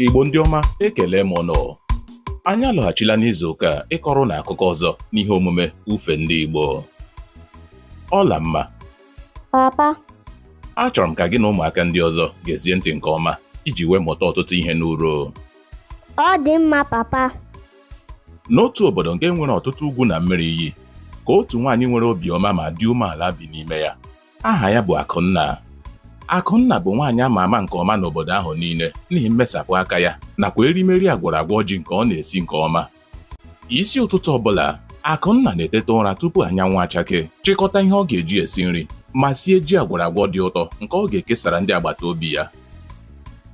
Igbo ndị ọma ekele m ụnụ anyị alọghachila n'izu ụka a ịkọrọ ụnụ akụkọ ọzọ n'ihe omume ufe ndị Igbo Ọlamma papa achọrọ m ka gị na ụmụaka ndị ọzọ gezie ntị nke ọma iji wee mụta ọtụtụ ihe n'uru ọ dị mma papa n'otu obodo nke nwere ọtụtụ ugwu na mmiri iyi ka otu nwaanyị nwere obiọma ma dị umeala bi n'ime ya Aha ya bụ Akụnna. Akụnna bụ nwaanyị a ma ama nke ọma n'obodo ahụ niile n'ihi mmesapụ aka ya nakwa erimeri agwọrọ agwọ ji nke ọ na-esi nke ọma. Isi ụtụtụ ọbụla, Akụnna na-eteta ụra tupu anyanwụ achakee, chịkọta ihe ọ ga-eji esi nri ma sie ji agwọrọ agwọ dị ụtọ nke ọ ga-ekesara ndị agbata obi ya.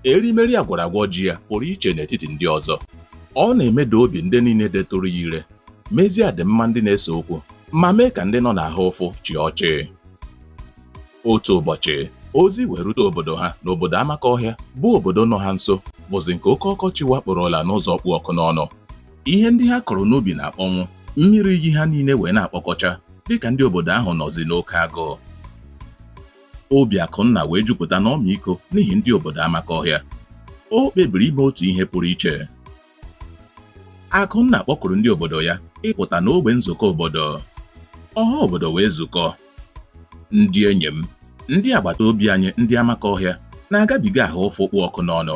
Erimeri agwọrọ agwọ ji ya pụrụ iche n'etiti ndị ọzọ. Ọ na-emeda obi ndị niile detụrụ ya ire mezie adịmma ndị na-ese okwu ma mee ka ndị nọ n'ahụ ụfụ chịa ọchị otu ụbọchị ozi wee rute obodo ha na obodo Amakọhịa bụ obodo nọ ha nso bụzi nke oke ọkọchị wakporola n'ụzọ kpụ ọkụ n'ọnụ ihe ndị ha kụrụ n'ubi na-akpọnwụ mmiri iyi ha niile wee na-akpọkọcha dịka ndị obodo ahụ nọzi n'oke agụụ obi akụnna wee jupụta n'ọmịiko n'ihi ndị obodo Amakọhịa o kpebiri ime otu ihe pụrụ iche Akụnna kpọkuru ndị obodo ya ịpụta n'ogbe nzukọ obodo. Ọha obodo wee zukọ. Ndị enyi m, ndị agbata obi anyị ndị Amakọhịa na-agabiga ahụ ụfụ kpụ ọkụ n'ọnụ.